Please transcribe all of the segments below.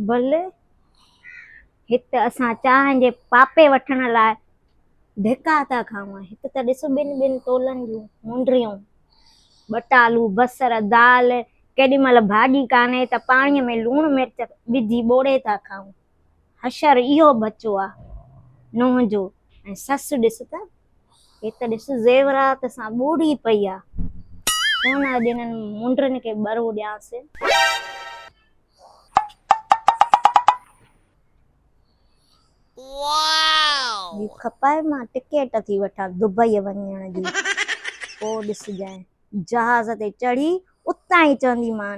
Bill هت اسان چانهن جي پاپي وٺڻ لاء ڌڪا ٿا کائون هت ته ڏس ٻن ٻن تولن جون مونڊريون ٻٽالو بصر دال ڪيڏي مهل ڀاڄي ڪانهي ته پاڻي ۾ لوڻ مرچ وجهي ٻوڙي ٿا کائون حشر اهو ٻچو آ نوح جو ۽ سس ڏس ته هي ته ڏس زيورات سان ٻوڙي پئي آ ڪونه اڄ انهن منڊرن کي ٻرو ڏيانس. جي کپائي مان ٽڪيٽ ٿي وٺان دبئي وڃڻ جي پوء ڏسجانء جهاز تي چڙهي اتان ئي چونديمان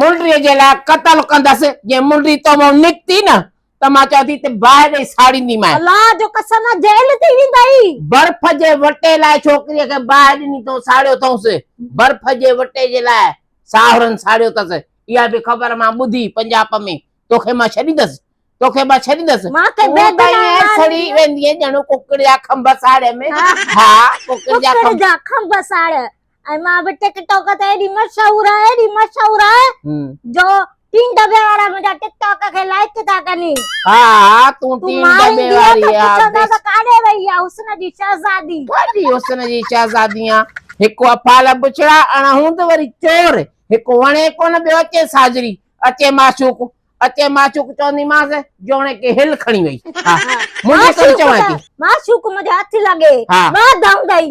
منڊيء جي لاء قتل ڪندس، جي منڊي تو مان نڪتي نه ته مان چوان ٿي ته باهه ڏئي ساڙينديمانء. الله جو قسم آ جيل ٿي ويندئي. برف جي وٽي لاء ڇوڪريء کي باهه ڏني تو ساڙيو اٿئونس، برف جي وٽي جي لاء ساهرن ساڙيو اٿس، اها به خبر مان ٻڌي پنجاپ ۾ توکي مان ڇڏيندس، توکي مان ڇڏيندس، تون ته ائين سڙي ويندينء ڄڻ ڪڪڙ جا کنڀ ساڙيم، ها ڪڪڙ جا کنڀ ساڙ، ۽ مان به ٽڪ ٽاڪ تي ايڏي مشهور آهي ايڏي مشهور آهي جو ٽين دبي وارا منهنجا ٽڪ ٽاڪ کي لائڪ ٿا ڪن ها ها تون ٽين دبي واري آهي ڪاڏي وئي آهي حسن جي شهزادي ڪاڏي حسن جي شهزادي آهي هڪ افعال بڇڙا اڻ هوند وري چور هڪ وڻي ڪونه ٻيو اچي ساجري اچي معشوق اچي معشوق چونديمانس جوڻيڪ هل کڻي وئي معشوق منهنجي هٿ لڳي ٻه دائون ڏئي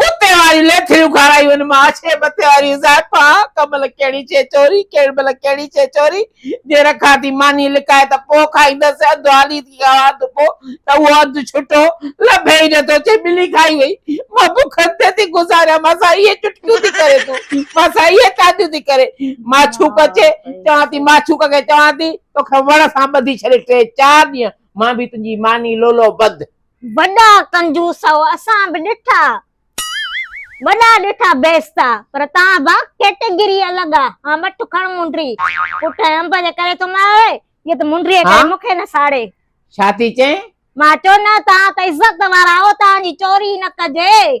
ڪتي واريون ليٿڙيون کارايون مان ڇي مٿي واري زائفا ڪمل ڪهڙي شي چوري ڪهڙي مهل ڪهڙي شي چوري جي رکان ٿي ماني لڪائي ته پوء کائيندس اڌ هالي ٿي کاوان ته پوء ته اهو اڌ ڇٽو لڀي ئي نٿو ڇي ٻلي کائي وئي مان بکن تي ٿي گذاريان مان سان اهي چٽڪيون ٿي ڪري تون مان سان اهي تاڏيون ٿي ڪري ماڇوڪ اچي چوان ٿي ماڇوڪ کي چوان ٿي توکي وڻ سان ٻڌي ڇڏي ٽي چار ڏينهن مان به تنهنجي ماني لولو بند وڏا ڪنجوس او اسان به ڏٺا وڏا ڏٺا بيستا پر تان با ڪيٽيگري الڳ آ ها مٺ کڻ منڊري پٽ انب جي ڪري ٿو مار اهي ته منڊري ڪري مون کي نه ساڙي ڇا ٿي چئين؟ مان چيو نه تان ته عزت وارا او تان جي چوري نه ڪجي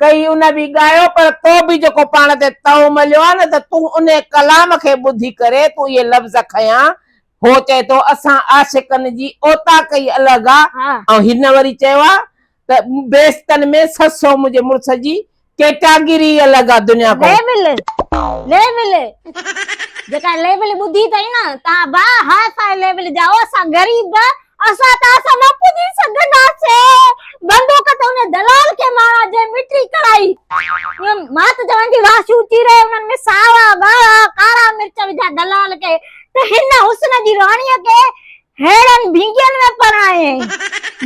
ڪئي ان به ڳايو پر تو به جيڪو پاڻ تي تئو مليو آهي نه ته تون انهي ڪلام کي ٻڌي ڪري تون اهي لفظ کنيا هو چئي ٿو اسان عاشقن جي اوطاق ئي الڳ آ ۽ هن وري چيو آ ته بيستن ۾ سسو منهنجي مڙس جي ڪيٽاگري ئي الڳ آ دنيا کان ليبل ليبل جيڪا ليبل ٻڌي اٿئي نه تان با ها سائين ليبل جاء اسان غريب اسان توهان سان نه پڄي سگهنداسين. بندوق ته ان دلال کي ماران جنهن مٽري ڪرائي. مات جوان جي واهه سوٽي رهي انهن ۾ ساوا، ڳاڙها، ڪارا مرچ وجهيا دلال کي ته هن حسن جي راڻيء کي ههڙن ڀينگين ۾ پرڻايائين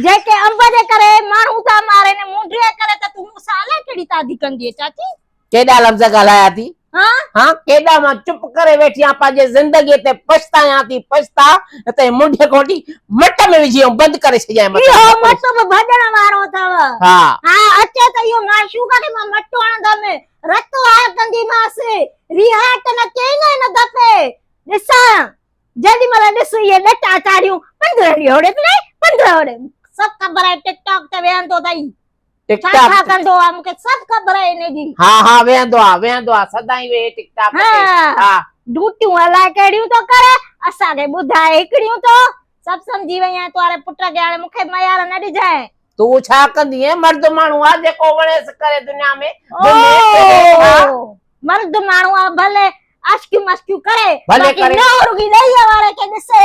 جيڪي انب جي ڪري ماڻهو ٿا مارين مونڊيء ڪري ته تون مون سان الائي ڪهڙي تادي ڪندينء چاچي. ڪيڏا لفظ ڳالهايا ٿي هان ڪيڏا مان چپ ڪري ويٺي آهيان پنهنجي زندگي تي پڇتايان ٿي پڇتا هتي منڍ کوٽي مٽ ۾ وجهي ۽ بند ڪري ڇڏيائين مٿي اهو مٽ به ڀڄڻ وارو اٿو ها ها اچي ته اهو معشوقه کي مان مٽ هڻندم رت وهاء ڪنديمانس ريها ته نه ڪين هن دفعي ڏسان جيڏي مهل ڏس اهي ڏٽا چاڙهيون پندرهن ڏيهه هوڙي ته نه پندرهن هوڙي سڀ خبر آهي ٽڪ ٽاڪ تي ويهندو اٿئي ٽڪ ٽاڪ ڇا ڪندو آ مون کي سڀ خبر آ انهي جي ها ها ويهندو آ ويهندو آ سدائين ويهي ٽڪ ٽاڪ تي ها ڊوٽيون الاء ڪهڙيون ٿو ڪري اسان کي ٻڌاء هڪڙيون ٿو سڀ سمجهي وئي آهيان توهاري پٽ کي هاڻي مون کي ميار نه ڏجانء تون ڇا ڪندينء مرد ماڻهو آ جيڪو وڻيس ڪري دنيا ۾ اوهو مرد ماڻهو آ ڀلي عشقيون مشقيون ڪري باقي نه رڳي ڏيئي واري کي ڏسي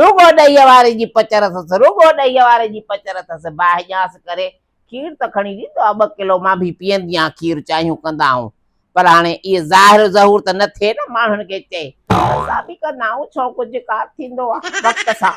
رڳو ڏيء واري جي پچر اٿس، رڳو ڏيء واري جي پچر اٿس. باهه ڄاس ڪري کير ته کڻي ڏيندو آ، ٻه ڪلو مان به پيئندي آهيان، کير چانهيون ڪندا آهون، پر هاڻي اهي ظاهر و ظهور ته نه ٿئي نه ماڻهن کي چئي. اسان به ڪندا آهيون، ڇو ڪجهه ڪار ٿيندو آ وقت سان.